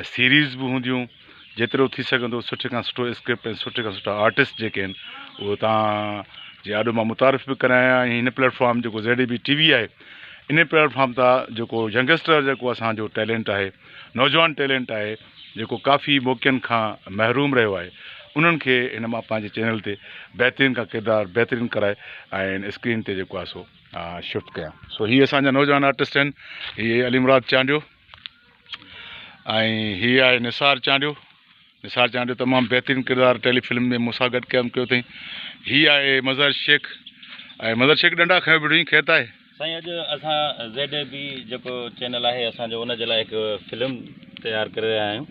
۽ Series به هونديون جيترو ٿي سگهندو سٺي کان سٺو اسڪرپٽ ۽ سٺي کان سٺا آرٽسٽ جيڪي آهن اهو تان جي آڏو مان متعارف به ڪرايان ۽ هن پليٽفارم جيڪو Z A B T V آهي ان پليٽفارم تان جيڪو ينگسٽر جيڪو اسانجو ٽيلنٽ آهي نوجوان ٽيلنٽ آهي جيڪو ڪافي موقعن کان محروم رهيو آهي انهن کي هن مان پنهنجي چينل تي بهترين کان ڪردار بهترين ڪرائي ۽ اسڪرين تي جيڪو آهي سو شفٽ ڪيان سو هي اسانجا نوجوان آرٽسٽ آهن هي علي مراد چانڊيو ۽ هي آهي نثار چانڊيو نثار چانڊيو تمام بهترين ڪردار ٽيلي فلم ۾ مون سان گڏ قيام ڪيو اٿئي هي آهي مظهر شيخ ۽ مظهر شيخ ڏنڊا کيو بيٺو اٿئي خير ته آهي سائين اڄ اسان زيڊ اي بي جيڪو چينل آهي اسان جو ان جي لاء هڪ فلم تيار ڪري رهيا آهيون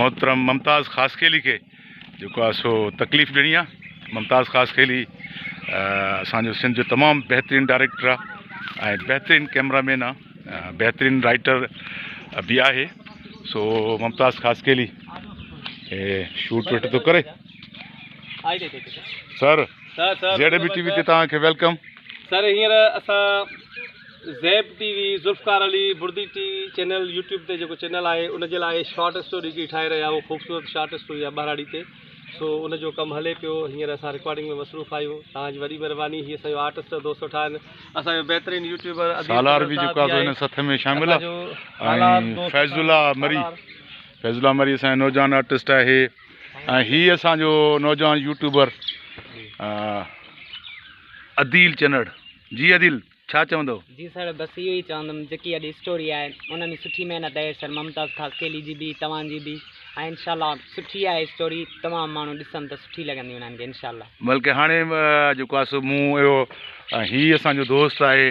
محترم ممتاز خاصخيلي کي جيڪو آهي سو تڪليف ڏيڻي آهي ممتاز خاصخيلي اسانجو سنڌ جو تمام بهترين ڊائريڪٽر آهي ۽ بهترين ڪيمرا مين آهي بهترين رائٽر به آهي سو ممتاز خاصخيلي شوٽ وٽ ٿو ڪري سر جهڙي به ٽي وي تي توهان کي ويلڪم سر هينئر اسان Zeb T V Zulfiqar Ali Bardi T V channel YouTube تي جيڪو چينل آهي ان جي لاء شارٽ اسٽوري جي ٺاهي رهيا آهيون خوبصورت شارٽ اسٽوري آهي ٻهراڙي تي سو ان جو ڪم هلي پيو هينئر اسان رڪارڊنگ ۾ مصروف آهيون توهان جي وڏي مهرباني هي اسان جو آرٽسٽ جو دوست ويٺا آهن اسان جو بهترين يوٽيوبر سالار به جيڪو آهي هن سٿ ۾ شامل آهي ۽ فيض الله مري فيض الله مري اسان جو نوجوان آرٽسٽ آهي ۽ هي اسان جو نوجوان يوٽيوبر عديل چنڙ جي عديل ڇا چوندو؟ جي سر بس اهو ئي چوندم جيڪي اڄ اسٽوري آهي ان ۾ سٺي محنت آهي سر ممتاز خاصخيلي جي به توهان جي به ۽ انشاء الله سٺي آهي اسٽوري تمام ماڻهو ڏسن ته سٺي لڳندي انهن کي انشاء الله. بلڪه هاڻي جيڪو آهي سو مون اهو ۽ هي اسان جو دوست آهي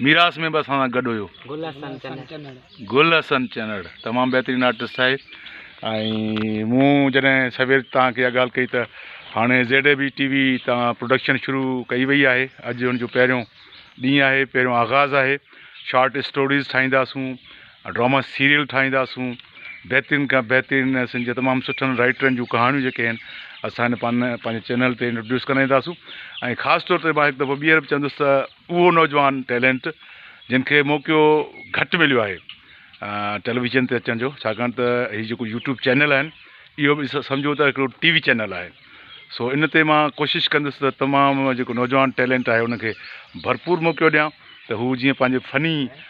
ميراث ۾ به اسان سان گڏ هيو. گل حسن چنڙ. گل حسن چنڙ تمام بهترين آرٽسٽ آهي ۽ مون جڏهن سوير توهان کي اها ڳالهه ڪئي ته هاڻي Z A B T V تان پروڊڪشن شروع ڪئي وئي آهي اڄ ان جو پهريون ڏينهن آهي پهريون آغاز آهي شارٽ اسٽوريز ٺاهينداسون ڊراما سيريل ٺاهينداسون بهترين کان بهترين سن جي تمام سٺن رائٽرن جون ڪهاڻيون جيڪي آهن اسان هن پن پنهنجي چينل تي انٽروڊيوس ڪرائينداسون ۽ خاص طور تي مان هڪ دفعو ٻيهر به چوندس ته اهو نوجوان ٽيلنٽ جن کي موقعو گهٽ مليو آهي ٽيليويزن تي اچڻ جو ڇاڪاڻ ته هي جيڪو يوٽيوب چينل آهن اهو به سمجهو ته هڪڙو ٽي وي چينل آهي سو ان تي مان ڪوشش ڪندس ته تمام جيڪو نوجوان ٽيلنٽ آهي ان کي ڀرپور موقعو ڏيان ته هو جيئن پنهنجي فني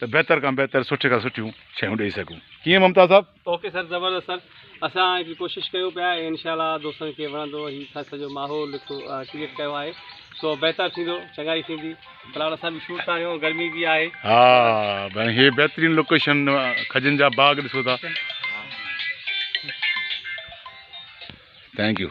ته بهتر کان بهتر سٺي کان سٺيون شيون ڏئي سگهون ڪيئن ممتاز صاحب. اوڪي سر زبردست سر اسان هڪ ڪوشش ڪيون پيا ۽ انشاء الله دوستن کي وڻندو هي سر سڄو ماحول هڪ ڪريئيٽ ڪيو آهي سو بهتر ٿيندو چڱائي ٿيندي في الحال اسان به شوٽ ٿا ڪيون گرمي به آهي ها ڀاڻي هي بهترين لوڪيشن کجن جا باغ ڏسو ٿا ٿينڪ يو